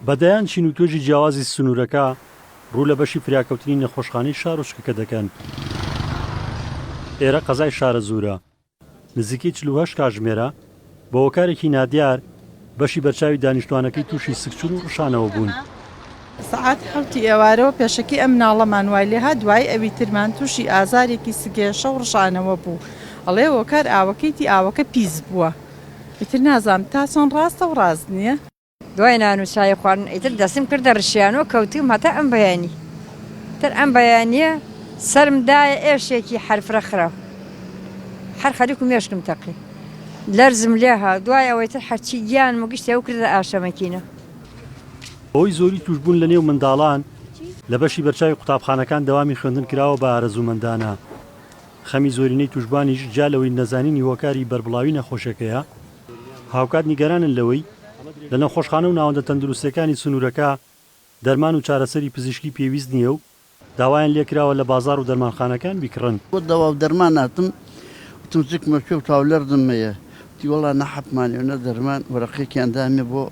بە دەیان چین و توێژی جیاوازی سنوورەکە ڕوو لە بەشی فریاکەوتنی نەخۆشخانەی شارۆچکەکە دەکەن. ئێرە قەزای شارەزوورە. نزیکەی چل و هەشت کاتژمێرە بە هۆکارێکی نادیار بەشی بەرچاوی دانیشتووانەکەی تووشی سکچوون و ڕشانەوە بوون. سەعات حەوتی ئێوارەوە پێشەکی ئەم مناڵەمان وای لێهات، دوایی ئەویترمان تووشی ئازارێکی سکێشە و ڕشانەوە بوو. ئەڵێ هۆکار ئاوەکەیتی، ئاوەکە پیس بووە. ئیتر نازانم تا چەند ڕاستە و ڕاست نییە. دوای نان و چای خواردن ئیتر دەستم کردە ڕشیانە و کەوتووم هەتا ئەم بەیانی. ئیتر ئەم بەیانییە سەرم دایە ئێشێکی هەر فرە خراو. هەر خەریک و مێشکم تەقی. لەرزم لێ هات. دوای ئەوە ئیتر هەرچی گیانم و گشتیان کردە ئاشەمەکینە. بەهۆی زۆری تووشبوون لەنێو منداڵان لە بەشی بەرچاوی قوتابخانەکان دەوامی خوێندن کراوە بە ئارەزوومەندانە. خەمی زۆرینەی تووشبانیش جیا لەوەی نەزانینی هۆکاری بەربڵاوی نەخۆشیەکەیە، هاوکات نیگەرانن لەوەی لە نەخۆشخانە و ناوەندە تەندروستیەکانی سنوورەکە دەرمان و چارەسەری پزیشکی پێویست نییە و داوایان لێکراوە لە بازاڕ و دەرمانخانەکان بیکڕن. بۆ دەوا و دەرمان هاتم، وتم زکمە کوێ و تاولەرزم هەیە، وتی وەڵا نە حەپمانێ و نە دەرمان، وەرەقەیەکیان دامێ بۆ.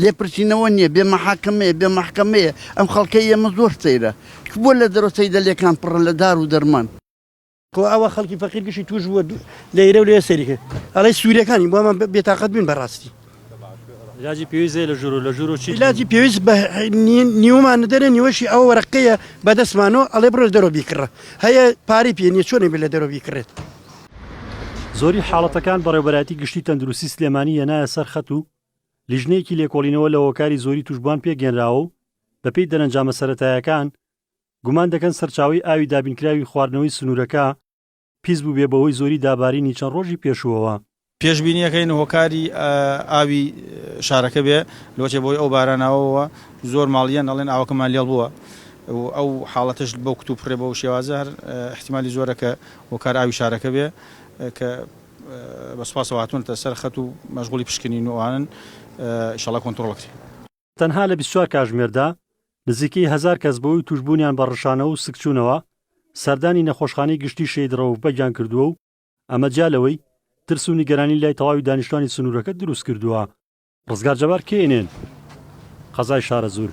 لێپرسینەوە نیە بێ مەحاکەمەیە بێ مەحکەمەیە ئەم خەڵکەی ئێمە زۆر سەیرە کە بۆ لە دەرەوە سەیدەلێکان پڕە لە دار و دەرمان. خۆ ئەوە خەڵکی فەقیر گشی توش بوە لەیرە و لەوێ سەیری کرد ئەڵێی سوریەکانی بۆ ئەمە بێتاقەت بوین بەڕاستی. ئیلاجی پێویست هەیە لە ژورو لە ژورو چیت هەیە؟ ئیلاجی پێویست بە نیوەمان ندەرێ نیوەشی ئەو وەرەقەیە بە دەستمانۆ ئەڵێ بڕۆ لە دەرەوە بیکڕە هەیە پارەی پێ نیە چۆنێ بێ لە دەرەوە بیکڕێت. زۆری حاڵەتەکان بەڕێوبەرایەتی گشتی تەندروستی سلێمانی یەنایە سەر خەت و لیژنەیەکی لێکۆڵینەوە لە هۆکاری زۆری توشبوان پێکهێنراوە و بەپێی دەرەنجامە سەرەتایەکان گومان دەکەن سەرچاوەی ئاوی دابینکراوی خواردنەوەی سنورەکە پیس بوبێ بەهۆی زۆری دابارینی چەند ڕۆژی پێشوەوە. پێشبینیەکەین هۆکاری ئاوی شارەکە بێ لۆچێ بەهۆی ئەو باراناوەوە زۆر ماڵ یەن ئەڵێن ئاوەکەمان لێڵ بوە و ئەو حاڵەتەش بەو کتوپڕێ بەو شێوازە هەر ئیحتیمالی زۆرە کە هۆکار ئاوی شارەکە بێ کە بە سوپاسەوە هاتوونەتە سەر خەت و مەشغوڵی پشکنین و ئەوانەن ئیشەڵا کۆنتڕۆڵ ئەکرێ. تەنها لە بیست و چوار کاژمێردا نزیکەی هەزار کەس بەهۆی تووشبوونیان بە ڕشانەوە و سکچوونەوە سەردانی نەخۆشخانەی گشتی شەهید ڕەوف بەگیان کردووە و ئەمە جیا لەوەی ترس و نیگەرانی لای تەواوی دانیشتوانی سنوورەکە دروست کردووە. ڕزگار جەبار، کەی ئنێن، قەزای شارەزوور.